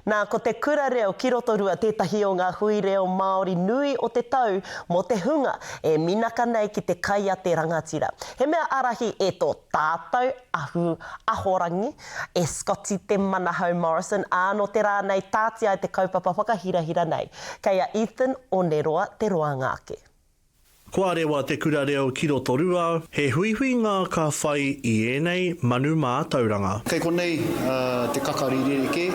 Nā, ko te Kura Reo ki Rotorua tētahi o ngā hui reo Māori nui o te tau mō te hunga e minaka nei ki te kai a te rangatira. He mea ārahi e tō tātou ahu ahorangi, e Scotty Te Manahau Morrison, ā, nō te rā nei tāti ai te kaupapa whakahirahira nei. Kei a Ethan Oneroa te roanga ake. Kua rewa te kura reo ki Rotorua, he huihuinga ka whai i ēnei manu mātauranga. Kei konei te kakari rerekē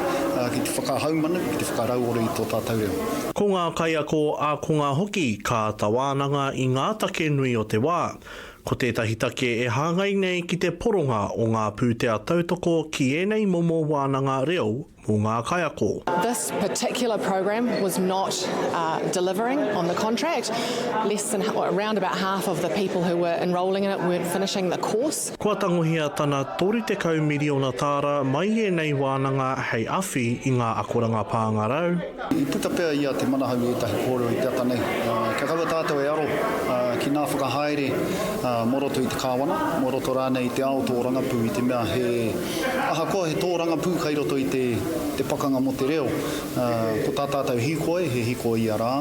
ki te whakahaumanu, ki te whakarauora i tō tātou reo. Ko ngā kaiako ākonga hoki ka āta wānanga i ngā take nui o te wā. Ko tētahi take e hāngai nei ki te poronga o ngā pūtea tautoko ki ēnei momo wānanga reo, mō ngā kaiako. This particular program was not delivering on the contract, less than, around about half of the people who were enrolling in it weren't finishing the course. Kua tangohia tana 30 miriona tāra mai i ēnei wānanga hei awhi i ngā akoranga pāngarau, I puta pea i a Te Manahau ētahi kōrero i te ata nei. Kia kaua tātou e aro ki ngā whakahaere mō roto i te kāwana, mō roto rānei i te ao tōrangapū i te mea he, ahakoa he tōrangapū kai roto i te pakanga mō te reo, ko tā tātou hīkoi he hīkoi ia rā,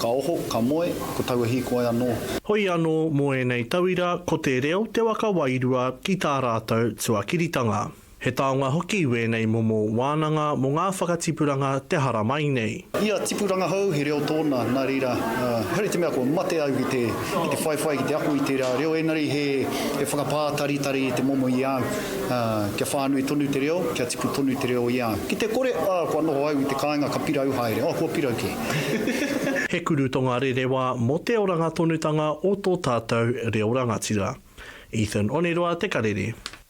ka oho, ka moe, ko taua hīkoi anō. Hoi anō mō ēnei tauira ko te reo te waka wairua ki tā rātou tuakiritanga. He taonga hoki wēnei momo wānanga mō ngā whakatipuranga te haramai nei. Ia tipu rangahau, he reo tōna, nā reira, haere te mea kua mate au ki te whaiwhai, ki te ako i tērā reo, ēngari he whakapātaritari te momo i a au kia whānui tonu te reo, kia tipu tonu te reo i a au. Ki te kore, ā, kua noho au i te kāinga ka pirau haere, oh, kua pirau kē. He kuru tongarerewa mō te orangatonutanga o tō tātou reo rangatira. Ethan Oneroa te karere.